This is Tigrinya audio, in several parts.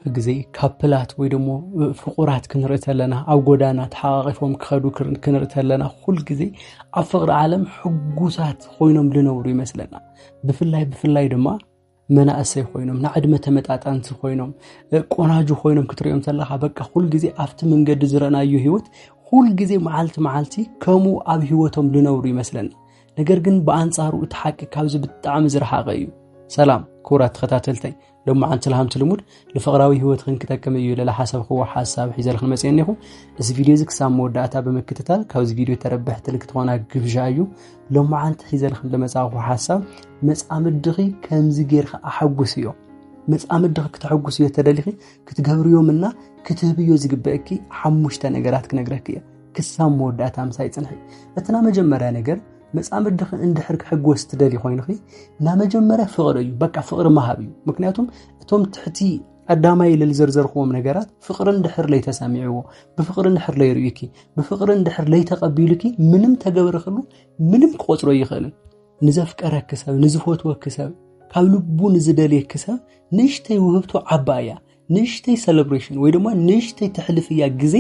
ብግዜ ካፕላት ወይ ደሞ ፍቑራት ክንርኢ ተለና ኣብ ጎዳና ተሓቛቒፎም ክኸዱ ክንርኢ ተለና ኩል ግዜ ኣብ ፍቕሪ ዓለም ሕጉሳት ኮይኖም ዝነብሩ ይመስለና ብፍላይ ብፍላይ ድማ መናእሰይ ኮይኖም ንዕድመ ተመጣጣንቲ ኮይኖም ቆናጁ ኮይኖም ክትሪኦም ተለካ በቃ ኩል ግዜ ኣብቲ መንገዲ ዝረእናዩ ህይወት ኩል ግዜ መዓልቲ መዓልቲ ከምኡ ኣብ ህይወቶም ዝነብሩ ይመስለና ነገር ግን ብኣንጻሩ እቲ ሓቂ ካብዚ ብጣዕሚ ዝረሓቐ እዩ ሰላም ክቡራት ተኸታተልተይ ሎማዓንቲ ልሃምቲ ልሙድ ንፍቕራዊ ህይወትኽን ክጠቅም እዩ ኢለ ዝሓሰብክዎ ሓሳብ ሒዘልክን መፅአ እኒኹ እዚ ቪድዮ እዚ ክሳብ መወዳእታ ብምክትታል ካብዚ ቪድዮ ተረብሕቲ ንክትኾና ግብዣ እዩ ሎማዓንቲ ሒዘልክን ዝመፃእኹ ሓሳብ መፃምድኺ ከምዚ ጌርካ ኣሓጉስ እዮ መፃምድኺ ክተሐጉስ እዮ ተደሊኺ ክትገብርዮምና ክትህብዮ ዝግበእኪ ሓሙሽተ ነገራት ክነግረኪ እየ ክሳብ መወዳእታ ምሳይ ፅንሒ እትና መጀመርያ ነገር መፃምድኺ እንድሕር ክሕጎስ ትደልይ ኮይንኺ ናብ መጀመርያ ፍቕሪ እዩ በቃ ፍቕሪ መሃብ እዩ ምክንያቱም እቶም ትሕቲ ቀዳማይ ኢለ ዝዘርዘርክዎም ነገራት ፍቕሪ እንድሕር ለይተሰሚዕዎ ብፍቕሪ እንድሕር ለይርእዩኪ ብፍቕሪ እንድሕር ለይተቐቢሉኪ ምንም ተገብርክሉ ምንም ክቆፅሮ ይኽእል ንዘፍቀረኪ ሰብ ንዝፈትወኪ ሰብ ካብ ልቡ ንዝደልየኪ ሰብ ንእሽተይ ውህብቶ ዓባ እያ ንእሽተይ ሰለብሬሽን ወይ ድማ ንእሽተይ ተሕልፍያ ግዜ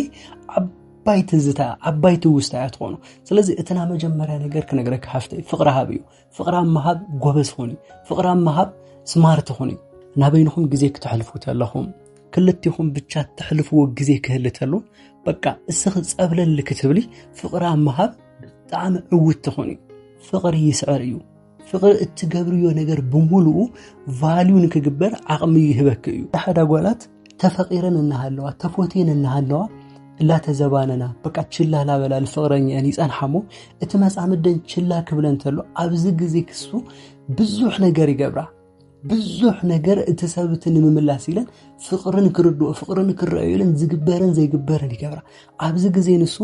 ዓባይ ትዝታ ዓባይ ትውስታ እያ ትኾኑ ስለዚ እቲ ናይ መጀመርያ ነገር ክነግረካ ሃፍተይ ፍቕሪ ሃብ እዩ ፍቕሪ ኣብ ምሃብ ጎበዝ ኹን ፍቕሪ ኣብ ምሃብ ስማርት ኹን ናበይንኹም ግዜ ክተሕልፉ ተለኹም ክልቲኹም ብቻ ተሕልፍዎ ግዜ ክህሊ ተሉ በቃ እስኺ ፀብለል ክትብሊ ፍቕሪ ኣብ ምሃብ ብጣዕሚ ዕውት ትኹን እዩ ፍቕሪ ይስዕር እዩ ፍቕሪ እትገብርዮ ነገር ብምሉኡ ቫልዩ ንክግበር ዓቕሚ ይህበክ እዩ ሓዳ ጓላት ተፈቂረን እናሃለዋ ተፎቴን እናሃለዋ እላተዘባነና በቃ ችላ ላበላ ንፍቕረኛን ይፀንሓሞ እቲ መፃምደን ችላ ክብለን ተሎ ኣብዚ ግዜ ክሱ ብዙሕ ነገር ይገብራ ብዙሕ ነገር እቲ ሰብቲ ንምምላስ ኢለን ፍቕርን ክርድኦ ፍቕርን ክረአዩ ኢለን ዝግበርን ዘይግበርን ይገብራ ኣብዚ ግዜ ንሱ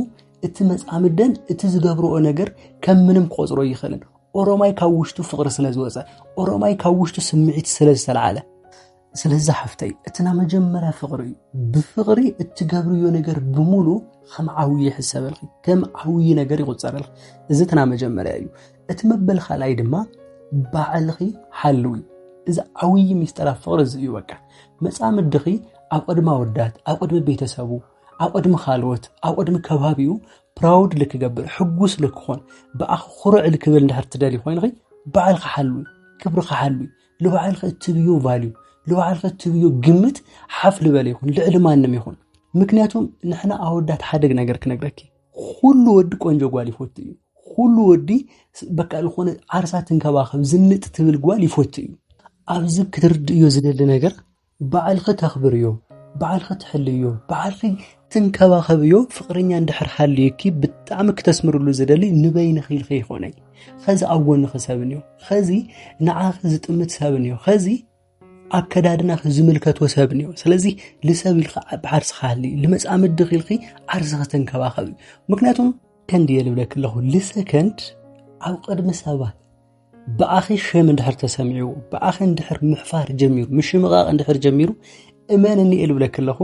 እቲ መጻምደን እቲ ዝገብርኦ ነገር ከም ምንም ክቆጽሮ ይኽእልን ኦሮማይ ካብ ውሽጡ ፍቕሪ ስለ ዝወፀ ኦሮማይ ካብ ውሽጡ ስምዒት ስለ ዝተለዓለ ስለዚ ሓፍተይ እቲ ናይ መጀመርያ ፍቕሪ እዩ ብፍቕሪ እትገብርዮ ነገር ብምሉ ከም ዓብዪ ይሕሰበልኺ ከም ዓብዪ ነገር ይቁፀረልኺ እዚ እቲ ናይ መጀመርያ እዩ እቲ መበል ካልኣይ ድማ ባዕልኺ ሓልዊ እዚ ዓብዪ ሚስጥር ኣብ ፍቕሪ እዚ እዩ በቃ መፃምድኺ ኣብ ቅድሚ ኣወዳት ኣብ ቅድሚ ቤተሰቡ ኣብ ቅድሚ ካልኦት ኣብ ቅድሚ ከባቢኡ ፕራውድ ልክገብር ሕጉስ ልክኾን ብኣኽ ኩርዕ ልክብል እንድሕር ትደሊ ኮይንኺ ባዕልካ ሓሉ ክብርካ ሓሉ ንባዕልካ እትብዮ ቫልዩ ንባዕልካ እትብዮ ግምት ሓፍ ልበለ ይኹን ልዕሊ ማንም ይኹን ምክንያቱም ንሕና ኣወዳት ሓደግ ነገር ክነግረኪ ኩሉ ወዲ ቆንጆ ጓል ይፈቱ እዩ ኩሉ ወዲ በቃ ዝኾነ ዓርሳ ትንከባኸብ ዝንጥ ትብል ጓል ይፈቱ እዩ ኣብዚ ክትርድእዮ ዝደሊ ነገር ባዕልኺ ተኽብርዮ፣ ባዕልኺ ትሕልይዮ፣ ባዕልኺ ትንከባኸብዮ ፍቕረኛ እንድሕር ሃልዩኪ ብጣዕሚ ክተስምርሉ ዝደሊ ንበይንኺ ኢልኺ ይኾነይ ኸዚ ኣብ ጎንኺ ሰብን እዩ ኸዚ ንዓኺ ዝጥምት ሰብን እዩ ኸዚ ኣከዳድናኺ ዝምልከቶ ሰብ ንዮ ስለዚ ልሰብ ኢልካ ዓቢ ዓርስኻ ሃሊ ልመጻምድኺ ኢልኺ ዓርስኺ ተንከባኸብ እዩ ምክንያቱም ከንዲ እየ ልብለኪ ኣለኹ ልሰከንድ ኣብ ቅድሚ ሰባት ብኣኺ ሸም እንድሕር ተሰሚዑ ብኣኺ እንድሕር ምሕፋር ጀሚሩ ምሽምቓቕ እንድሕር ጀሚሩ እመንኒ እየ ልብለኪ ኣለኹ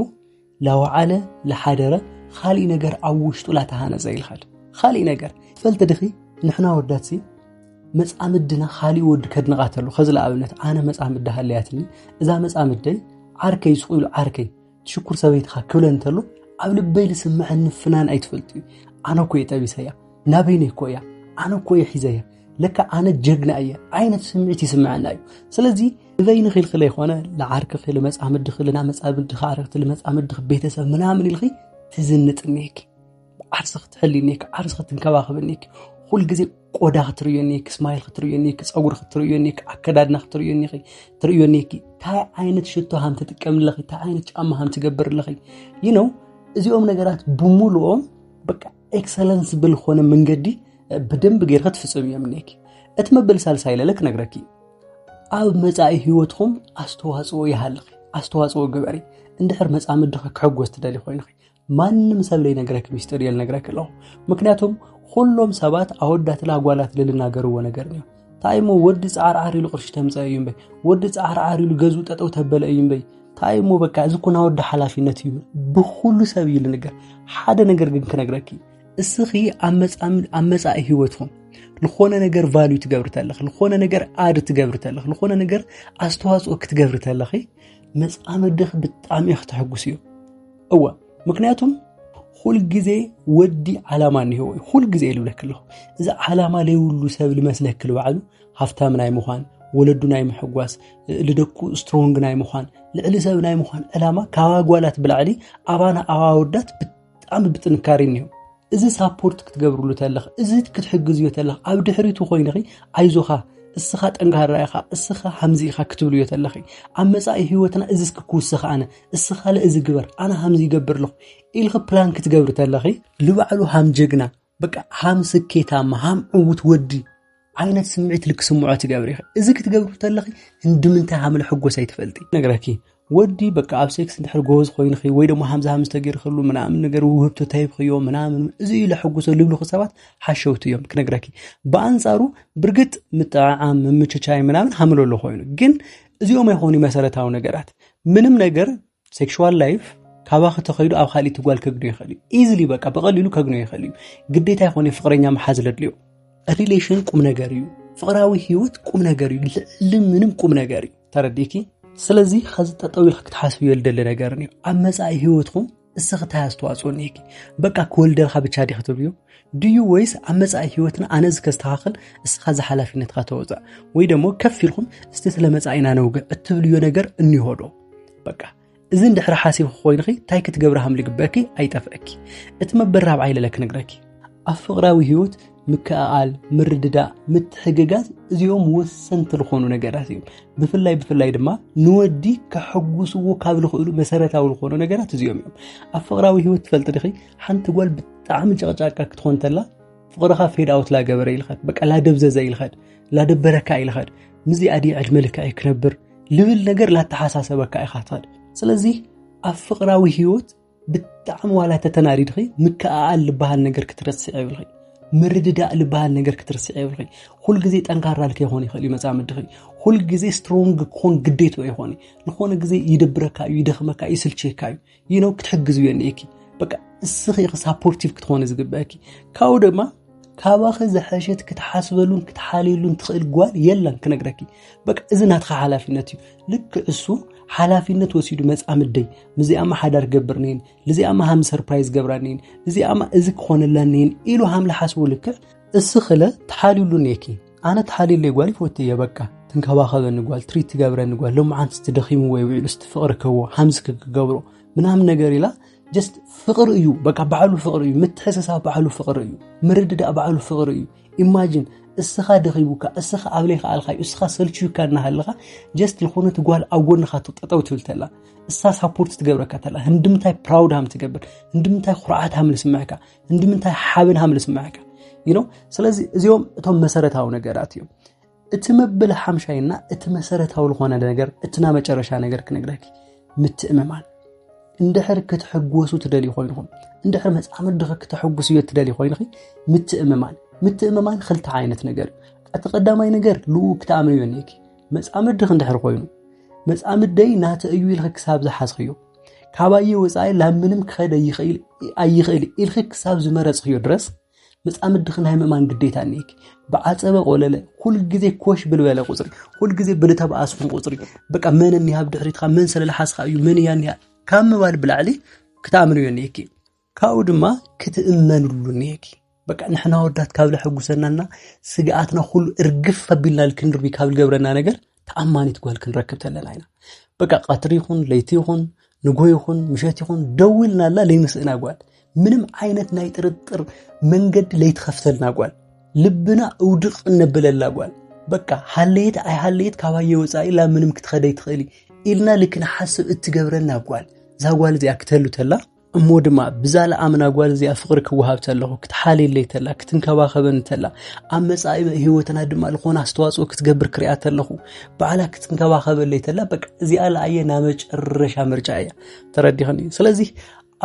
ላወዓለ ላሓደረ ኻሊእ ነገር ኣብ ውሽጡ ላተሃነፀ ኢልኻል ኻሊእ ነገር ፈልቲ ድኺ ንሕና ወዳትሲ መፃምድና ኻሊእ ወዲ ከድንቓ ተሉ ከዚ ንኣብነት ኣነ መፃምዲ ሃለያትኒ እዛ መፃምደይ ዓርከይ ስቑ ኢሉ ዓርከይ ሽኩር ሰበይትኻ ክብለ እንተሎ ኣብ ልበይ ዝስምዐኒ ፍናን ኣይትፈልጥዩ ኣነ እኮ እየ ጠቢሰያ ናበይነ እኮ እያ ኣነ እኮ እየ ሒዘያ ለካ ኣነ ጀግና እየ ዓይነት ስምዒት ይስምዐና እዩ ስለዚ ንበይ ንኽል ክለ ይኮነ ንዓርክ ክል መፃምድኽ ልናመፃምድኽ ኣረክቲ ልመፃምድኽ ቤተሰብ ምናምን ኢልኺ ትዝንጥ እኒሄኪ ዓርሰ ክትሕልዩኒ እኒኪ ዓርሰ ክትንከባኸብኒ እኒኪ ኩሉ ግዜ ቆዳ ክትርእዩኒ እኒኪ ስማይል ክትርእዩኒ እኒኪ ፀጉሪ ክትርእዩኒ እኒኪ ኣከዳድና ክትርእዩኒ እኒኪ ትርእዩኒ እኒኪ እንታይ ዓይነት ሽቶ ሃም ትጥቀም ኣለኺ እንታይ ዓይነት ጫማ ሃም ትገብር ኣለኺ ይህ ነው እዚኦም ነገራት ብምሉኦም በቃ ኤክሰለንስ ብልኾነ መንገዲ ብደንብ ገይርኸ ትፍፅም እዮም እኒኪ እቲ መበል ሳልሳይ ለለ ክነግረኪ ኣብ መፃኢ ህይወትኩም ኣስተዋፅኦ ይሃልኺ ኣስተዋፅኦ ግበሪ እንድሕር መፃምድኺ ክሕጎስ ትደሊ ኮይንኺ ማንም ሰብ ዘይነግረክ ሚስጥር እየ ልነግረክ ኣለኹ ምክንያቱም ኩሎም ሰባት ኣወዳትን ኣጓላትን ልናገርዎ ነገር እዩ እንታይ እሞ ወዲ ፃዕርዓር ኢሉ ቅርሺ ተምፀአ እዩ እምበይ ወዲ ፃዕርዓር ኢሉ ገዝኡ ጠጠው ተበለ እዩ እምበይ እንታይ እሞ በቃ እዚ ኩና ወዲ ሓላፊነት እዩ ብኩሉ ሰብ እዩ ልንገር ሓደ ነገር ግን ክነግረኪ እስኺ ኣብ መፃኢ ህይወትኩም ዝኾነ ነገር ቫልዩ ትገብሪ ተለኺ ዝኾነ ነገር ኣድ ትገብሪ ተለኺ ዝኾነ ነገር ኣስተዋፅኦ ክትገብሪ ተለኺ መፃምድኺ ብጣዕሚ እዩ ክትሕጉስ እዩ እወ ምክንያቱም ሁልጊዜ ወዲ ዓላማ እኒሄዎ እዩ ሁልጊዜ ይልብለክ ኣለኹ እዚ ዓላማ ዘይብሉ ሰብ ልመስለክ ልባዕሉ ሃፍታም ናይ ምዃን ወለዱ ናይ ምሕጓስ ልደኩ ስትሮንግ ናይ ምዃን ልዕሊ ሰብ ናይ ምዃን ዕላማ ካብ ኣጓላት ብላዕሊ ኣባና ኣዋወዳት ብጣዕሚ ብጥንካሬ እኒሄው እዚ ሳፖርት ክትገብርሉ ተለኽ እዚ ክትሕግዝዮ ተለኽ ኣብ ድሕሪቱ ኮይንኺ ኣይዞኻ እስኻ ጠንካራ ኢኻ እስኻ ሃምዚ ኢኻ ክትብልዮ ተለኺ ኣብ መፃኢ ህይወትና እዚ እስኪ ክውስኽ ኣነ እስኻ ለእዚ ግበር ኣነ ሃምዚ ይገብር ኣለኹ ኢልኺ ፕላን ክትገብሪ ተለኺ ልባዕሉ ሃም ጀግና በቃ ሃም ስኬታማ ሃም ዕውት ወዲ ዓይነት ስምዒት ልክስምዖ ትገብሪ ኢኺ እዚ ክትገብሪ ተለኺ እንድምንታይ ሃምለ ሕጎስ ኣይትፈልጢ ነገረኪ ወዲ በቃ ኣብ ሴክስ እንድሕር ጎበዝ ኮይንኺ ወይ ደሞ ሃምዚ ሃምዚ ተገይርክሉ ምናምን ነገር ውህብቶ ተሂብክዮ ምናምን እዚ እዩ ለሕጉሶ ልብልኹ ሰባት ሓሸውቲ እዮም ክነግረኪ ብኣንጻሩ ብርግጥ ምጥዕዓም ምምችቻይ ምናምን ሃምለሎ ኮይኑ ግን እዚኦም ኣይኾኑ መሰረታዊ ነገራት ምንም ነገር ሴክሹዋል ላይፍ ካባኺ ተኸይዱ ኣብ ካልእቲ ጓል ከግኖ ይኽእል እዩ ኢዝሊ በቃ ብቐሊሉ ከግኖ ይኽእል እዩ ግዴታ ይኾነ ፍቅረኛ መሓዝ ለድልዮ ሪሌሽን ቁም ነገር እዩ ፍቅራዊ ህይወት ቁም ነገር እዩ ልዕሊ ምንም ቁም ነገር እዩ ተረዲኪ ስለዚ ከዚ ጠጠው ኢልክ ክትሓስብዮ ልደሊ ነገር እዩ ኣብ መፃኢ ህይወትኩም እስኺ እንታይ ኣስተዋፅኦ እኒሄኪ በቃ ክወልደልካ ብቻ ዲኺ ትብልዮ ድዩ ወይስ ኣብ መፃኢ ህይወትና ኣነ እዚ ከስተኻኽል እስኻ እዚ ሓላፊነትካ ተወፃእ ወይ ደሞ ከፍ ኢልኩም እስቲ ስለ መፃኢና ነውግዕ እትብልዮ ነገር እኒሆ ዶ በቃ እዚ እንድሕሪ ሓሲብ ኮይንኺ እንታይ ክትገብሪ ሃም ልግበኪ ኣይጠፍአኪ እቲ መበል ራብዓይ ለለ ክነግረኪ ኣብ ፍቕራዊ ህይወት ምክእኣል ምርድዳእ ምትሕግጋዝ እዚኦም ወሰንቲ ዝኾኑ ነገራት እዮም ብፍላይ ብፍላይ ድማ ንወዲ ከሐጉስዎ ካብ ዝኽእሉ መሰረታዊ ዝኾኑ ነገራት እዚኦም እዮም ኣብ ፍቕራዊ ህይወት ትፈልጢ ድኺ ሓንቲ ጓል ብጣዕሚ ጨቕጫቃ ክትኾን ተላ ፍቕርኻ ፌድ ኣውት ላገበረ ኢልኸድ በቃ ላደብዘዘ ኢልኸድ ላደበረካ ኢልኸድ ምስዚኣ ድየ ዕድመ ልክዐይ ክነብር ልብል ነገር ላተሓሳሰበካ ኢኻ ትኸእል ስለዚ ኣብ ፍቕራዊ ህይወት ብጣዕሚ ዋላ ተተናዲድኺ ምክኣኣል ዝበሃል ነገር ክትረስዕ የብልኺ ምርድዳእ ዝበሃል ነገር ክትርስዕ የብልኺ ኩልግዜ ጠንካራ ልከይኮን ይኽእል እዩ መፃምድኺ ኩልግዜ ስትሮንግ ክኾን ግዴቶ ይኾን ንኾነ ግዜ ይደብረካ እዩ ይደኽመካ እዩ ይስልችየካ እዩ ይኖ ክትሕግዝ እዮ እኒኤኪ በቃ እስኺ ኢኺ ሳፖርቲቭ ክትኾኒ ዝግበአኪ ካብኡ ድማ ካባኺ ዝሐሸት ክትሓስበሉን ክትሓልየሉን ትኽእል ጓል የላን ክነግረኪ በቃ እዚ ናትኻ ሓላፊነት እዩ ልክ እሱ ሓላፊነት ወሲዱ መፃምደይ ምዚኣማ ሓዳር ገብር ነይን ልዚኣማ ሃም ሰርፕራይዝ ገብራ ነይን እዚኣማ እዚ ክኾነላ ነይን ኢሉ ሃም ልሓስቡ ልክዕ እስኽለ ትሓልዩሉ ኔኪ ኣነ ተሓልየለይ ጓል ይፈቱ እየ በቃ ትንከባኸበኒ ጓል ትሪት ትገብረኒ ጓል ሎምዓንቲ ስትደኺሙ ወይ ውዒሉ ስትፍቕሪ ከዎ ሓምዚ ክክገብሮ ምናምን ነገር ኢላ ጀስት ፍቕሪ እዩ በቃ ባዕሉ ፍቕሪ እዩ ምትሕስሳብ ባዕሉ ፍቕሪ እዩ ምርድዳእ ባዕሉ ፍቕሪ እዩ ኢማጂን እስኻ ደኺቡካ እስኻ ኣብ ለይካ ኣልካዩ እስኻ ሰልችዩካ እናሃለኻ ጀስት ዝኾነት ጓል ኣብ ጎንኻ ትጠጠው ትብል ተላ እሳ ሳፖርት ትገብረካ ተላ ህንድምታይ ፕራውድ ሃም ትገብር ህንድምታይ ኩርዓት ሃም ዝስምዕካ እንድምንታይ ሓብን ሃም ዝስምዐካ ይኖ ስለዚ እዚኦም እቶም መሰረታዊ ነገራት እዮም እቲ መበል ሓምሻይና እቲ መሰረታዊ ዝኾነ ነገር እቲ ና መጨረሻ ነገር ክነግረኪ ምትእምማን እንድሕር ክትሕጎሱ ትደልዩ ኮይንኹም እንድሕር መፃምድኺ ክተሕጉስ እዮ ትደልዩ ኮይንኺ ምትእምማን ምትእምማን ክልተ ዓይነት ነገር እቲ ቀዳማይ ነገር ልኡ ክትኣምንዮ እኒኪ መፃምድኺ እንድሕር ኮይኑ መፃምደይ ናተ እዩ ኢልኺ ክሳብ ዝሓዝኽዮ ካባየ ወፃኢ ናብ ምንም ክኸደ ኣይኽእል ኢልኺ ክሳብ ዝመረፅኽዮ ድረስ መፃምድኺ ናይ ምእማን ግዴታ እኒሄኪ። ብዓፀበ ቆለለ ኩልግዜ ኮሽ ብልበለ ቁፅሪ ኩልግዜ ብልተበኣስኹም ቁፅሪ በቃ መን እኒሃ ኣብ ድሕሪትካ መን ስለልሓስኻ እዩ መን እያ እኒሃ ካብ ምባል ብላዕሊ ክትኣምንዮ እኒሄኪ። ካብኡ ድማ ክትእመንሉ እኒሀኪ በቃ ንሕና ወዳት ካብ ለሐጉሰናና ስግኣትና ኩሉ እርግፍ ኣቢልና ክንርቢ ካብ ዝገብረና ነገር ተኣማኒት ጓል ክንረክብ ተለና ኢና በቃ ቀትሪ ይኹን ለይቲ ይኹን ንጎ ይኹን ምሸት ይኹን ደውልናላ ለይምስእና ጓል ምንም ዓይነት ናይ ጥርጥር መንገዲ ለይትኸፍተልና ጓል ልብና እውድቕ እነብለላ ጓል በቃ ሃለየት ኣይሃለየት ካባየ ወፃኢ ላ ምንም ክትኸደይ ትኽእሊ ኢልና ልክንሓስብ እትገብረና ጓል እዛ ጓል እዚኣ ክተሉ ተላ እሞ ድማ ብዛ ለኣምና ጓል እዚኣ ፍቕሪ ክወሃብ ተለኹ ክትሓልየለይ ተላ ክትንከባኸበኒ ተላ ኣብ መጻኢ ህይወትና ድማ ዝኾነ ኣስተዋፅኦ ክትገብር ክሪያ ተለኹ ባዕላ ክትንከባኸበለይ ተላ በቃ እዚኣ ለኣየ ናብ መጨረሻ ምርጫ እያ ተረዲኸኒ ስለዚ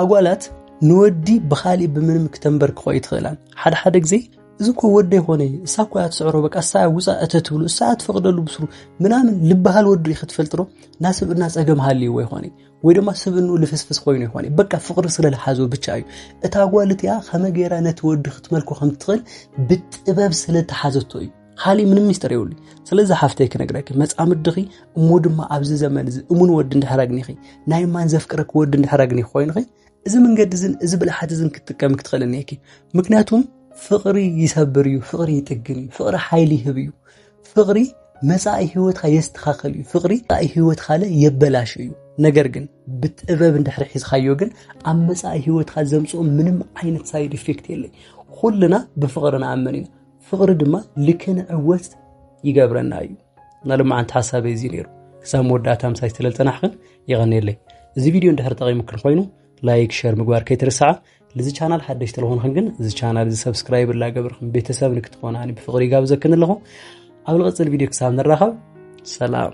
ኣጓላት ንወዲ ብኻሊእ ብምንም ክተንበርክኾ ይትኽእላን ሓደ ሓደ ግዜ እዚ እኮ ወደ ይኮነ እሳ እኮ እያ ትስዕሮ በቃ እሳ እያ ውፃ እተ ትብሉ እሳ እያ ትፈቅደሉ ብስሩ ምናምን ልበሃል ወዱ ክትፈልጥሮ ናስብእና ፀገም ሃልይዎ ይኮነ ወይ ድማ ስብኑ ልፍስፍስ ኮይኑ ይኾን እዩ በቃ ፍቕሪ ስለ ዝሓዞ ብቻ እዩ እታ ጓል እቲኣ ከመይ ገይራ ነቲ ወዲ ክትመልኮ ከም ትኽእል ብጥበብ ስለ ተሓዘቶ እዩ ሃሊ ምንም ሚስጥር የብሉ ስለዚ ሓፍተይ ክነግረኪ መፃምድኺ እሞ ድማ ኣብዚ ዘመን እዚ እሙን ወዲ እንድሕር ኣግኒኺ ናይ ማን ዘፍቅረኪ ወዲ እንድሕር ኣግኒኺ ኮይንኺ እዚ መንገዲ እዝን እዚ ብልሓት እዝን ክትጥቀሚ ክትኽእል እኒኪ ምክንያቱም ፍቕሪ ይሰብር እዩ ፍቕሪ ይጥግን እዩ ፍቕሪ ሓይሊ ይህብ እዩ ፍቅሪ መጻኢ ህይወትካ የስተኻኸል እዩ ፍቅሪ መጻኢ ህይወትካለ የበላሽ እዩ ነገር ግን ብጥበብ እንድሕሪ ሒዝካዮ ግን ኣብ መጻኢ ህይወትካ ዘምጽኦ ምንም ዓይነት ሳይድ ኢፌክት የለይ ኩልና ብፍቅሪ ንኣመን ኢና ፍቅሪ ድማ ልክንዕወት ይገብረና እዩ እና ልማዓንቲ ሓሳበይ እዚ ነይሩ ክሳብ መወዳእታ ምሳይ ዝተለልጠናሕክን ይቐንየለይ እዚ ቪድዮ እንድሕር ጠቂሙክን ኮይኑ ላይክ ሸር ምግባር ከይትርስዓ ልዚ ቻናል ሓደሽ ተለኾንኹም ግን እዚ ቻናል እዚ ሰብስክራይብ ላገብርኩም ቤተሰብ ንክትኾናኒ ብፍቕሪ ይጋብዘክን ኣለኹ ኣብ ልቕፅል ቪድዮ ክሳብ ንራኸብ ሰላም